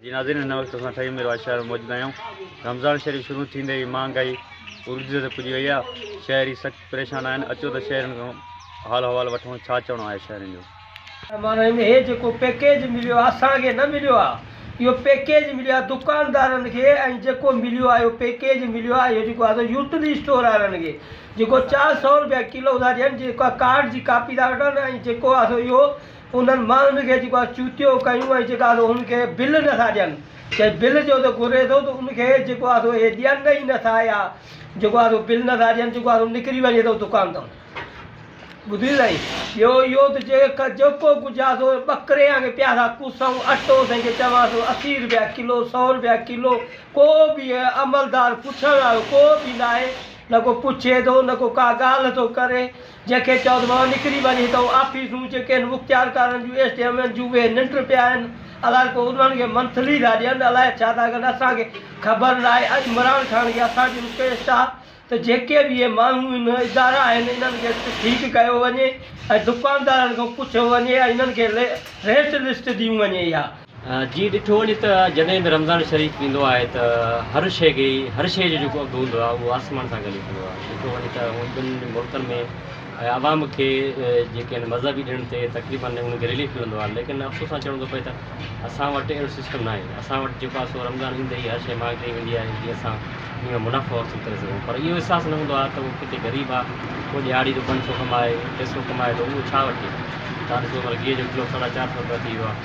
جي ناظرين هن وقت اسان ٺهي ميرواهه شهر ۾ موجود آهيون رمضان شريف شروع ٿيندي ئي مهانگائي عروج تي پڄي وئي آهي شهري سخت پريشان آهن اچو ته شهرين کان حال احوال وٺون ڇا چوڻو آهي شهرين جو. معنيٰ ان هي جيڪو پيڪيج مليو آهي اسان کي نه مليو آهي اهو پيڪيج مليو آهي دڪاندارن کي ۽ جيڪو مليو آهي اهو پيڪيج مليو آهي اهو جيڪو آهي سو يوٽلي اسٽور وارن کي جيڪو چار سئو رپيا ڪلو ٿا ڏين جيڪا ڪارڊ جي ڪاپي ٿا وٺن ۽ جيڪو آهي سو اهو انهن ماڻهن کي جيڪو اسان چوٽيو ڪيون ۽ جيڪا سو هن کي بل نه ٿا ڏين چي بل جو ته گهري ٿو ته ان کي جيڪو آ سو اهي ڏين ئي نه ٿا يا جيڪو آ سو بل نه ٿا ڏين جيڪو آ سو نڪري وڃي ٿو دڪان تان ٻڌيو سائين ٻيو اهو ته جي ڪا جيڪو ڪجهه آ سو ٻڪريان کي پيا ٿا ڪوسون اٽو سائين کي چوان ٿو اسي رپيا ڪلو سؤ رپيا ڪلو ڪو به عملدار پڇڻ وارو ڪو به ناهي نه ڪو پڇي ٿو نه ڪو ڪا ڳالهه ٿو ڪري جنهن کي چوڌ مان نڪري وڃي ته آفيسون جي ڪن مختيارڪارن جون ايس ڊي ايمن جون ويهه ننڊ پيا آهن الائي ڪو انهن کي منٿلي ٿا ڏين الائي ڇا ٿا ڪن اسان کي خبر نه آهي ۽ عمران خان کي اسان جي رڪويسٽ آهي ته جيڪي به اهي ماڻهون ان ادارا آهن انهن کي ٺيڪ ڪيو وڃي ۽ دڪاندارن کان پڇيو وڃي ۽ انهن کي ريٽ لسٽ ڏيون وڃي اها جيئن ڏٺو وڃي ته جڏهن به رمضان شريف ايندو آهي ته هر شيء کي هر شيء جو جيڪو اگهه هوندو آهي اهو آسمان سان گڏ هوندو آهي ڏٺو وڃي ته هونئن ٻن ملڪن ۾ عوام کي جيڪي آهن مذهبي ڏڻ تي تقريبن انهن کي رليف ملندو آهي ليڪن افسوس سان چوڻو ٿو پئي ته اسان وٽ اهڙو سسٽم نه آهي اسان وٽ جيڪو آهي سو رمضان ايندي ئي هر شيء مهانگي ڪئي ويندي آهي جيئن اسان ان ۾ منافعو حاصل ڪري سگهون پر اهو احساس نه هوندو آهي ته هو ڪتي غريب آهي هو ڏهاڙي جو پنج سئو ڪمائي ٽي سئو ڪمائي ٿو اهو ڇا وٺي ٿو تان ڏسو هينئر گيهه جو ڪلو ساڍا چار سئو رپيا ٿي ويو آهي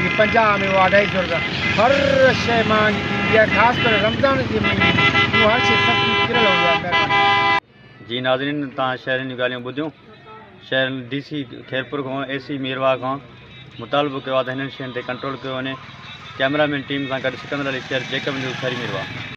هي پنجاهه ۾ هو اڍائي سؤ روپيا هر شيء مهانگي ٿي ويندي آهي خاص ڪري رمضان جي مهيني ۾ هو هر شيء سستي ڪريل هوندي آهي مهرباني. جي ناظرين توهان شهرين جون ڳالهيون ٻڌيون شهر ڊي سي خيرپور کان اي سي ميرواهه کان مطالبو ڪيو آهي ته هنن شين تي ڪنٽرول ڪيو وڃي ڪيمرا مين ٽيم سان گڏ سڪندر علي شير جيڪب نيوز شهري ميرواهه.